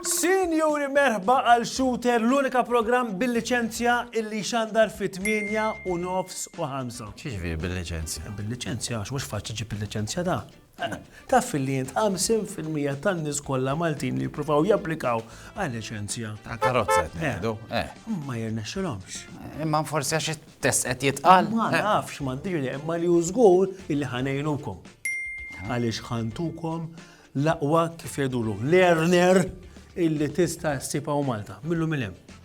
Sinjuri merħba għal Shooter, l-unika programm bil-liċenzja illi xandar fi 8 u nofs u 5. Xiex vi bil-liċenzja? Bil-liċenzja, għax mux faċċi ġib il-liċenzja da. Taf li int 50 fil-mija tan-nies kollha Maltin li jippruvaw japplikaw għal liċenzja. Ta' karozza qed ngħidu. Eh. Eh. Ma jirnexxilhomx. Eh, imma forsi għax it-test qed jitqal. Ma nafx ma ndirli imma li hu żgur illi ħanejnukom. Għaliex ħantukom l-aqwa kif jgħidulu learner illi tista' ssibha Malta. Millu mill-hemm.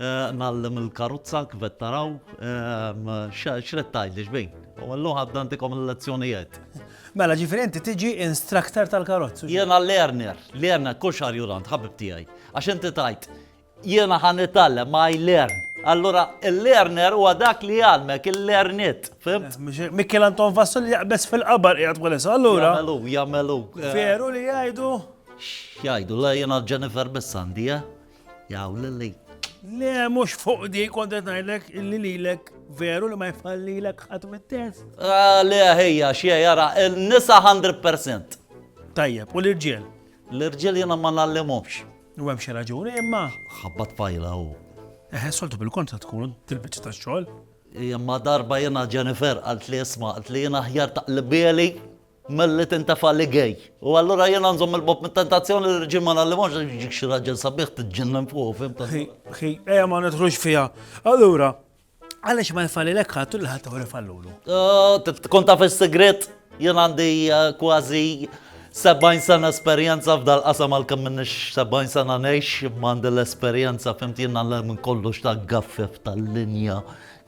Ngħallem il-karozza kif qed taraw. X'qed tgħidli xbin? U llum ħadd għandikom il-lezzjonijiet. Mela ġifieri inti tiġi instructor tal-karozzi. Jiena learner, learner, kull xahar jur għand ħabib tiegħi. Għax inti tgħid jiena ħa nitgħallem, I learn. Allura il-learner huwa dak li jgħallmek, il-learnit, fimt? Mikiel Anton Vassol li jaqbeż fil-qabar qiegħed bħalissa, allura. Jagħmel hu, jagħmel hu. Veru li jgħidu? X'jgħidu, le jiena Jennifer biss għandi, eh? Jaw lili. Le, mux fuq di, kontet najlek illi lilek veru li ma jfallilek ħat mit-test. Ah, le, ħeja, xie, jara, il-nisa 100%. Tajjeb, u l-irġiel? L-irġiel jena ma nallimomx. U hemm xi raġuni imma. Ħabbat fajla u. Eħe, soltu bil-kontra tkun til-biċċa ta' xogħol. Imma darba jena Jennifer għalt li jisma' għalt li jena ħjar taqlibeli Milli tintefa' li gay. U allura jiena nżomm il-bogħod mit-tentazzjoni li r-rġiel ma ngħallimhomx għax jiġik xi raġel sabiħ tiġġennen fuqu, fhimt? Ħi, ħi, ejja ma nidħlux fiha. Allura, għaliex ma jfallilek ħadd u lil ħaddieħor ifallulu? Trid tkun taf is-sigriet? Jien għandi kważi 70 sena esperjenza f'dal-qasam għalkemm m'iniex 70 sena ngħix, imma għandi l-esperjenza, fhimt, jiena nagħlem minn kollox ta' gaffef, ta' linja,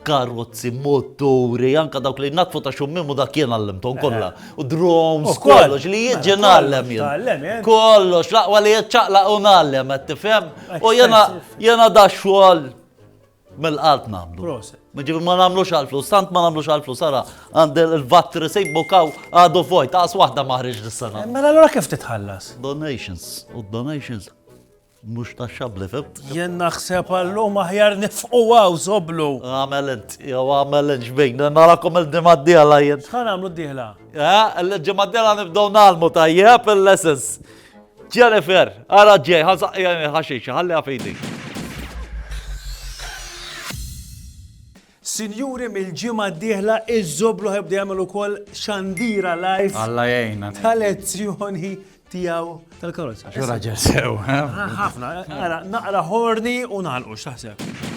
karozzi, moturi, anka dawk li natfu ta' xummim u dak jien għallimtom kollha. Eh. U drones, kollox li jien ġien għallem jien. Kollox, laqwa li jien ċaqla u nallem, qed tifhem? U jena jena da xogħol mill-qalb nagħmlu. Ġifi ma nagħmlux għal-flus, tant ma nagħmlux għal-flus, ara, għand il-vattri sejbu kaw għadu fojt, għas waħda maħriġ dis-sena. Eh, mela allura kif titħallas? Donations, u donations Mhux taxxabbli, fimt? Jien naħseb għal-lum aħjar nifqu hawn, Zoblu. Agħmel int, jew agħmel int x'bejk, narakom il-ġimgħa d-dieħla jien. X'ħa nagħmlu d-dieħla? Eh, il-ġimgħa d-dieħla nibdew nagħlmu tajjeb il-lessons. Jennifer, ara ġej, ħażaqja ħaxixa, ħalliha f'idejk. Sinjuri mill-ġimgħa d-dieħla iż-Żobluħ jibda jagħmel ukoll xandira live. Alla jgħinna. Ta' lezzjoni tiegħu tal-karozza. Xi raġel sew. Ħafna, ara naqra ħorni u nagħlqu x'taħseb.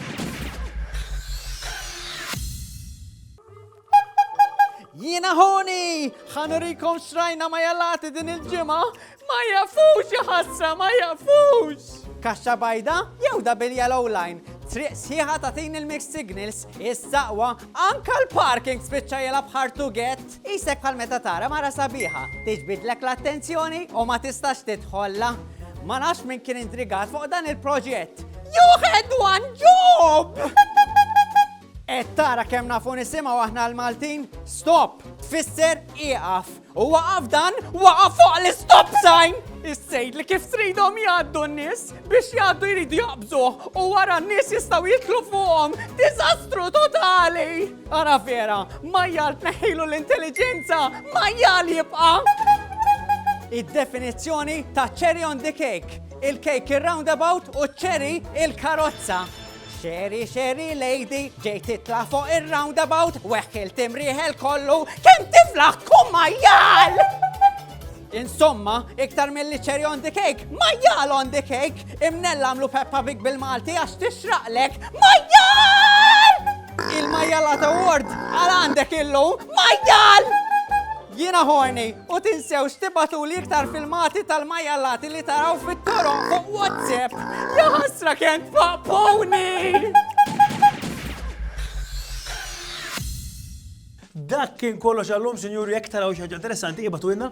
Jiena ħoni! Ħanurikom xrajna ma jalati din il-ġimgħa Ma jafux, ja ħasra, ma jafux! Kaxxa bajda jew double yellow line? Triq sħiħa tagħtini l-mixed signals, is-saqwa, anka l-parking spiċċa jilgħab hard to get. Qisek bħal meta tara mara sabiħa tiġbidlek l-attenzjoni u ma tistax tidħollha. Ma nafx min kien indrigat fuq dan il-proġett. You had one job! Et tara kemm nafu nisimgħu aħna l-Maltin? Stop! Tfisser ieqaf! U waqaf dan, waqaf fuq l-stop sign! Is-sejd li kif tridhom jgħaddu n-nies biex jgħaddu jridu jaqbżuh u wara n-nies jistgħu jitlu fuqhom. Diżastru totali! Ara vera, majjal tneħħilu l-intelligenza, majjal jibqa'! Id-definizzjoni ta' cherry on the cake, il-cake ir-roundabout u cherry il-karozza. Xeri, xeri, lady, ġej titla fuq il-roundabout, weħk il-timriħel kollu, kem tiflaħ tkun majjal! Insomma, iktar mill-li cherry on the cake, majjal on the cake, imnella għamlu Peppa Big bil-Malti għax tixraqlek, majjal! Il-majjal għata ward, għal għandek illum, majjal! Jiena horny u tinsewx tibgħatuli iktar filmati tal-majjallati li taraw fit-toroq fuq WhatsApp. Ja ħasra kemm tfaqpuni! Dak kien kollox għallum, sinjuri, jek taraw xaġa interessanti, jibatu inna.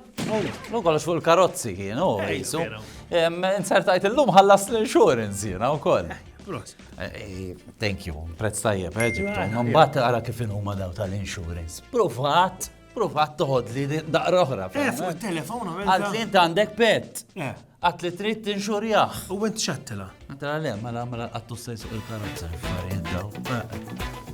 Lu kollox fuq il-karozzi kien, u jisu. Insertajt il-lum ħallas l-insurance jina u koll. Eh, eh, thank you, prezz tajjeb, eh, ġibtu. Mbatt għara kif huma daw tal-insurance. Provat. Prova toħod li daqra oħra. Eh, fuq il-telefon għamil. Għalt li inti għandek pet. Eh. Għat li trid tinxurjaħ. U għent xattila. Għatila le, mela mela għattu sejsu il-karozza. Marjen daw. Eh.